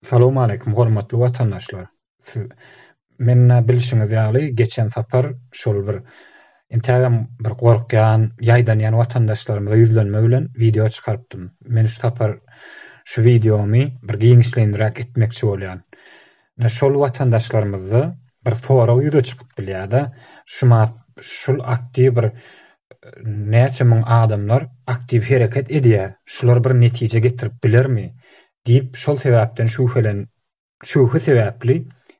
Salowmaleýkim hormatly watandaşlar. Siz mennä bilşiňiz ýaly geçen sapar şol bir intägem bir gorkýan, ýaýdanýan watandaşlarymyza ýüzlenme bilen wideo çykarypdym. Men şu sapar şu wideomy bir giňişleýinräk etmekçi bolýan. Ine şol watandaşlarymyzda bir sorag ýüze çykyp bilýär-de, şu mat şul aktiw bir näçe müň adamlar aktiw hereket edýär, şular bir netije getirip bilermi? diýip, şol sebäpden şübhelen şübhe sebäpli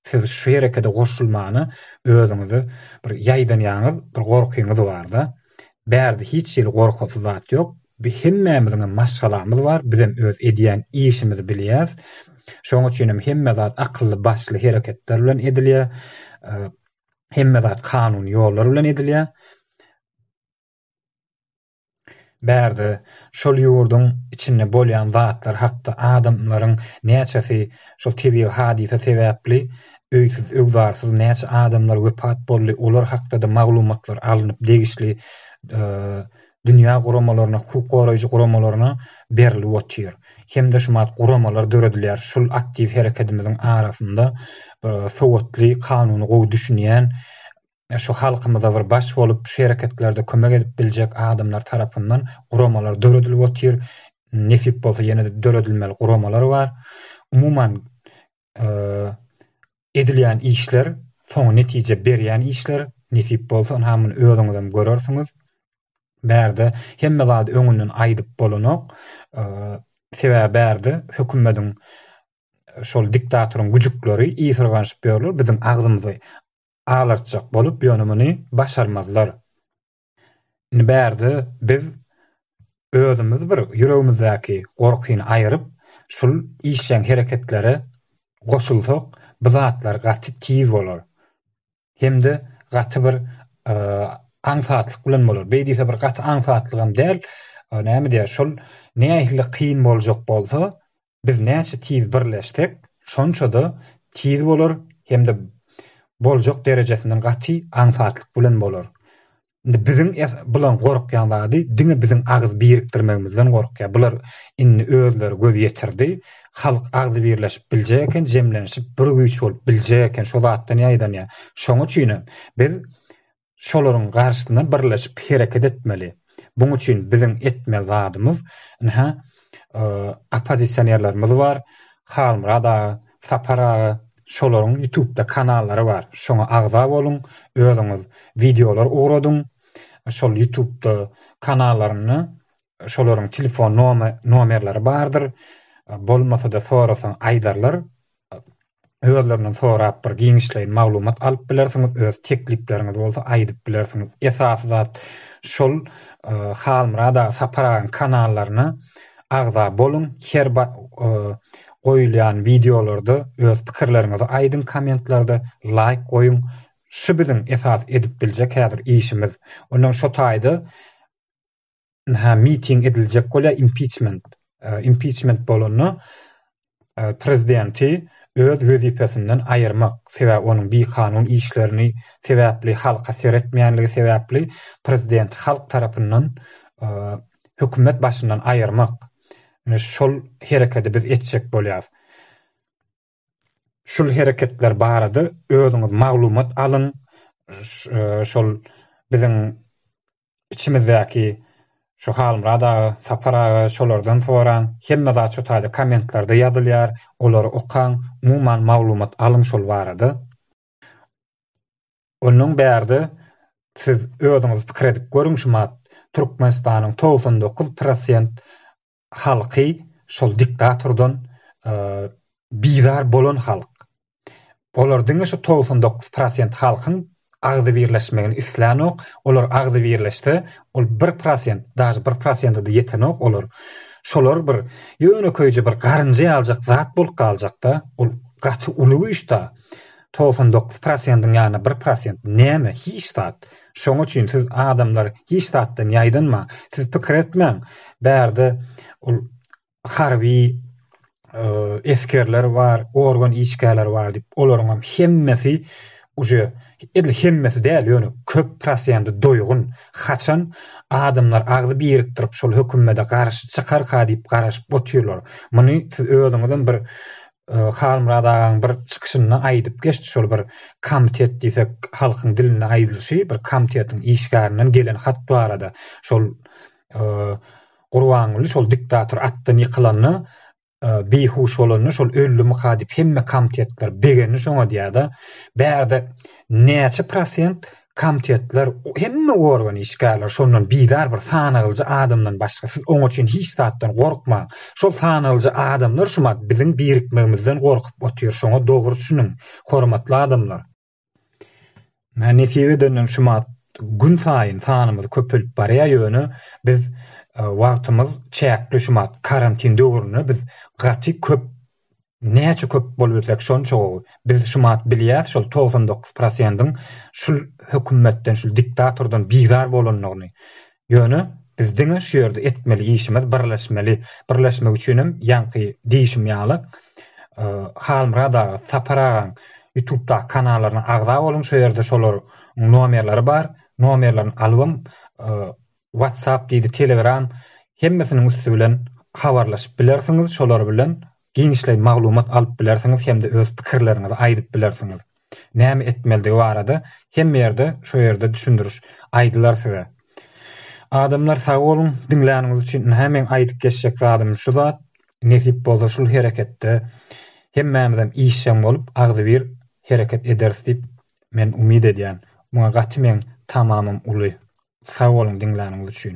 siz şu herekede goşulmana özüňizi bir ýaýdanýaňyz, bir gorkyňyz bar-da. Bärde hiç hili gorkasy zat ýok. Bi hemmämiziňem maşgalamyz bar, bizem öz edýän işimizi bilýäs. Şoň üçinem hemme zat akylly başly hereketler bilen edilýär. Hemme zat kanuny ýollar bilen edilýär. Bärde şol ýurduň içinde bolýan zatlar hakda adamlaryň näçesi şol tebigy hadysa sebäpli öýsüz öwzarsyz näçe adamlar wepat boldy olar hakda-da maglumatlar alnyp degişli dünýä guramalaryna, hukuk goraýjy guramalaryna berilip otyr. Hem-de şumat guramalar döredilýär. Şul aktiw herekedimiziň arasynda sowatly, kanuny gowy düşünýän, şu halkymyza bir baş bolup, şu hereketlerde kömek edip biljek adamlar tarapyndan guramalar döredilip otyr. Nesip bolsa ýene-de döredilmeli guramalar bar. Umuman, edilýän işler soň netije berýän işler nesip bolsa ynha muny özüňizem görersiňiz bärde hemme zady öňünden aýdyp bolanok sebäbi bärde hökümediň şol diktatoryň güjükleri iyi syrganyşyp ýörler biziň agzymyzy alartjak bolup ýöne muny başarmazlar Indi bärde biz özümiz bir ýüregimizdäki gorkyny aýyryp, şul işjeň hereketlere goşulsak, bu zatlar gaty tiz bolar. Hem-de gaty bir aňsatlyk bilen bolar. Beý diýse bir gaty aňsatlygam däl. Näme diýýär, şol nähili kyn boljak bolsa, Biz näçe tiz birleşsek, şonça-da tiz bolar hem-de boljak derejesinden gaty aňsatlyk bilen bolar. Indi biziň bulan gorkýan zady diňe biziň agyz birikdirmegimizden gorkýar. Bular indi özleri göz ýetirdi. Halk agzy birleşip biljek eken, jemlenişip bir güýç bolup biljek eken. Şo zatdan ýaýdanýar. Şoň üçinem biz şolaryň garşysyna birleşip hereket etmeli. Buň üçin biziň etmeli zadymyz, ynha, oppozisionerlerimiz bar, Halmyrat aga, Sapar aga, şolaryň ýutubda kanallary bar, şoňa agza boluň, özüňiz wideolar ugradyň, şol ýutubda kanallarynda şolaryň telefon nomerleri bardyr, bolmasa-da sorasaň aýdarlar, özlerinden sorap bir giňişleýin maglumat alyp bilersiňiz öz teklipleriňiz bolsa aýdyp bilersiňiz esasy zat şol Halmyrat aga Sapar agaň kanallaryna agza boluň her goýulýan wideolarda öz pikirleriňizi aýdyň kommentlarda laýk goýuň şu biziň esasy edip biljek häzir işimiz ondan şo taýda ha miting ediljek bolýar impiçment impiçment bolanda prezidenti öz wezipesinden aýyrmak sebäbi onuň bir kanun işlerini sebäpli halka seretmeýänligi sebäpli prezidenti halk tarapyndan hökümet başyndan aýyrmak şol hereketi biz etjek bolýar şul hereketler barada özüňiz maglumat alyň, şol biziň içimizdäki şu Halmyrat aga, Sapar aga şolardan soraň, hemme zat şu taýda kommentlarda ýazylýar, olary okaň, umuman maglumat alyň şol barada. Onnoň bärde siz özüňiz pikir edip görüň şu mat Türkmenistanyň togsan dokuz prosent halky şol diktatordan bizar bolan halk. Olar diňe şu togsan dokuz prosent halkyň agzybirleşmegini islänok, olar agzybirleşse, ol bir prosent, daže bir prosenta-da ýetenok olar. Şolar bir ýönekeýje bir garynja ýaljak zat bolup galjak-da, ol gaty uly güýç-da. togsan dokuz prosendiň ýa-da bir prosent näme, hiç zat. Şoň üçin siz adamlar hiç zatdan ýaýdanmaň. Siz pikir etmäň, bärde ol harby esgerler bar, organ işgärleri bar diýip, olaryňam hemmesi uje edil hemmesi däl, ýöne köp prosendi doýgun. Haçan adamlar agzy birikdirip şol hökümede garşy çykarka diýip garaşyp otyrlar. Muny siz özüňizem bir Halmyrat agaň bir çykyşynda aýdyp geçdi şol bir komitet diýsek halkyň dilinde aýdylyşy bir komitetiň işgärinden gelen hat barada şol Gurbanguly şol diktator atdan ýykylanda bihuş bolanda şol öldümika diýip hemme komitetler begendi şoňa diýýärde bärde näçe prosent Komtetler, hemme organ işgärleri şondan bizar bir sanalyjy adamdan başga. Siz oň üçin hiç zatdan gorkmaň. Şol sanalyjy adamlar şumat biziň birikmegimizden gorkup otyr. Şoňa dogry düşüniň, hormatly adamlar. Nesip edenden şumat gün saýyn sanymyz köpelip barýar, ýöne biz wagtymyz çäkli şumat karantin döwründe biz gaty köp Näçe köp bolubilsek şonça gowy. Biz şumat bilýäs şol togsan dokuz prosendiň şul hökümetden şul diktatordan bizar bolandygyny. Ýöne biz diňe şu ýerde etmeli işimiz birleşmeli. Birleşmek üçinem ýaňky diýişim ýaly Halmyrat aga Sapar agaň ýutubdaky kanallaryna agza boluň şo ýerde şolaryň nomerleri bar. Nomerlerini alybam WhatsApp diýdi Telegram hemmesiniň üsti bilen habarlaşyp bilersiňiz şolar bilen giňişleýin maglumat alyp bilersiňiz hem-de öz pikirleriňizi aýdyp bilersiňiz näme etmelidigi barada hemme ýerde şo ýerde düşündiriş aýdylar size adamlar sag boluň diňläniňiz üçin ynha meň aýdyp geçjek zadym şu zat nesip bolsa şul hereketde hemmämizem işjeň bolup agzybir hereket ederis diýip men umyt edýän muňa gaty meň tamamym uly Sag boluň diňläniňiz üçin.